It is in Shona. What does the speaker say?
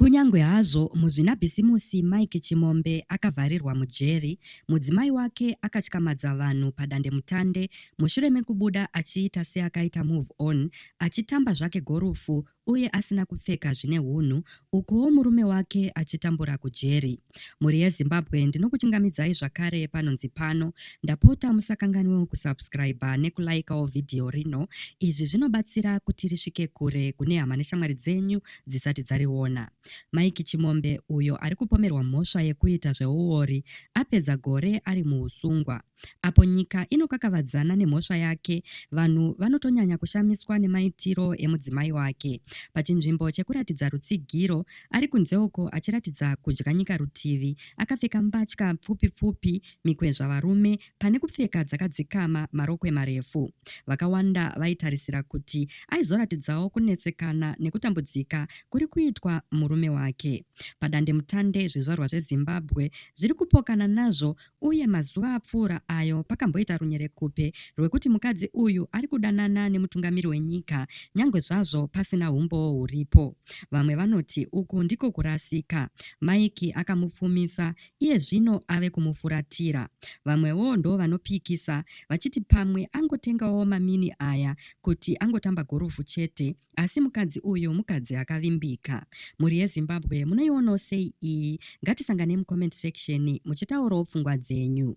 Kunyangwe hazvo muzvinabhisimusi Mike Chimombe akavharirwa mujeri, mudzimai wake akatyamadza vanhu padandemutande mushure mekubuda achiita seakaita move on achitamba zvake gorufu uye asina kupfeka zvine hunhu ukuwo murume wake achitambura kujeri. Mhuri yeZimbabwe ndinokuchingamidzai zvakare panonzi pano. Ndapota musakanganwewo kusubscriber nekulikawo vhidhiyo rino. Izvi zvinobatsira kuti risvike kure kune hama neshamwari dzenyu dzisati dzariona. Mike Chimombe, uyo ari kupomerwa mhosva yekuita zveuori, apedza gore ari muhusungwa. Apo nyika inokakavadzana nemhosva yake, vanhu vanotonyanya kushamiswa nemaitiro emudzimai wake. Pachinzvimbo chekuratidza rutsigiro, ari kunze uko achiratidza kudya nyika rutivi, akapfeka mbatya pfupi pfupi, mikwezva varume Pane kupfeka dzakadzikama marokwe marefu, vakawanda vaitarisira kuti aizoratidzawo kunetsekana nekutambudzika kuri kuitwa murume wake. Padandemutande zvizvarwa zveZimbabwe zviri kupokana nazvo uye mazuva apfuura ayo pakamboita runyerekupe rwekuti mukadzi uyu ari kudanana nemutungamiri wenyika nyangwe zvazvo pasina humbowo huripo. Vamwe vanoti uku ndiko kurasika. Mike akamupfumisa Iye zvino ave kumufuratira. Vamwewo ndo vanopikisa vachiti pamwe angotengawo mamini aya kuti angotamba gorofu chete asi mukadzi uyu mukadzi akavimbika. Mhuri yeZimbabwe munoionawo sei iyi? Ngatisangane mucomment section muchitaurawo pfungwa dzenyu.